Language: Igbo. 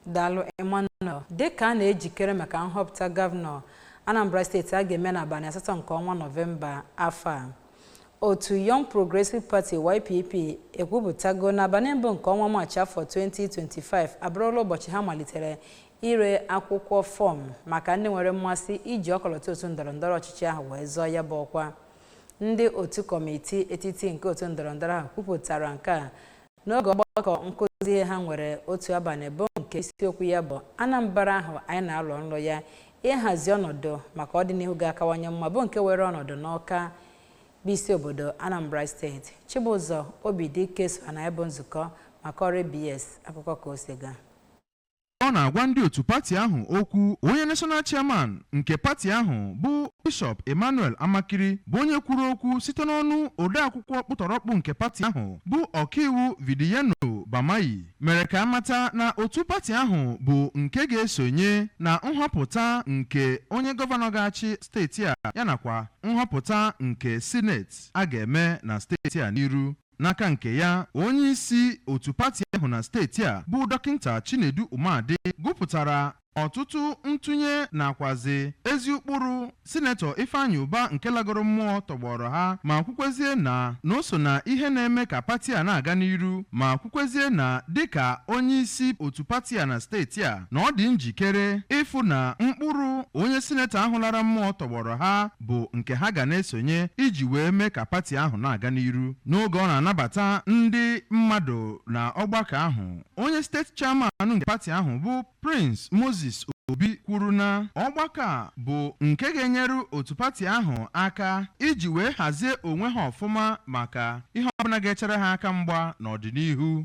Daalụ Emmanuel. Dịka a na-ejikere maka nhọpụta gọvanọ Anambra steeti a ga-eme n'abanị asatọ nke ọnwa Nọvemba afọ a, otu Young Progressive Party YPP ekwupụtago n'abanị mbụ nke ọnwa Maachị afọ 2025 abụrụla ụbọchị ha malitere ire akwụkwọ fọm maka ndị nwere mmasị iji ọkọlọtọ otu ndọrọndọrọ ọchịchị ahụ wee zọọ ya bụ ọkwa. Ndị otu kọmitii etiti nke otu ndọrọndọrọ ahụ kwupụtara nke a n'oge ọgbakọ nkụzi ihe ha nwere otu abanị bụ nke isiokwu ya bụ Anambra ahụ anyị na-alọ nlọ ya ịhazi ọnọdụ maka ọdịnihu ga-akawanye mma bụ nke weere ọnọdụ n'Awka bụ isi obodo Anambra steeti Chibụzọ Obidike so na ya bụ nzukọ ma kọọrọ ABS akụkọ ka o si gaa Ọ na-agwa ndị otu pati ahụ okwu, onye National Chairman nke pati ahụ bụ Bishọp Emmanuel Amakiri bụ onye kwuru okwu site n'ọnụ odeakwụkwọ ọkpụtọrọkpụ nke pati ahụ bụ ọkaiwu Vidiyeno Bamaiyi mere ka a mata na otu pati ahụ bụ nke ga-esonye na nhọpụta nke onye gọvanọ ga-achị steeti a yanakwa nhọpụta nke sineti a ga-eme na steeti a n'iru. N'aka nke ya, onye isi otu pati ahụ na steeti a bụ Dọkịnta Chinedu Umeadị gụpụtara ọtụtụ ntụnye nakwazi ezi ụkpụrụ Sinetọ Ifeanyị Ụba nke lagoro mmụọ tọgbọọrọ ha ma kwukwezie na na o so na ihe na-eme ka pati a na-aga n'iru ma kwukwezie na dịka onye isi otu pati a na steeti a na ọ dị njikere ịfụ na ụkpụrụ onye sinetọ ahụ lara mmụọ tọgbọọrọ ha bụ nke ha ga na-esonye iji wee mee ka pati ahụ na-aga n'iru. N'oge ọ na-anabata ndị mmadụ na ọgbakọ ahụ, onye steeti chairman nke pati ahụ bụ Prince Moses Obi kwuru na ọgbakọ a bụ nke ga-enyere otu pati ahụ aka iji wee hazie onwe ha ọfụma maka ihe ọbụla ga-echere ha aka mgba n'ọdịnihu.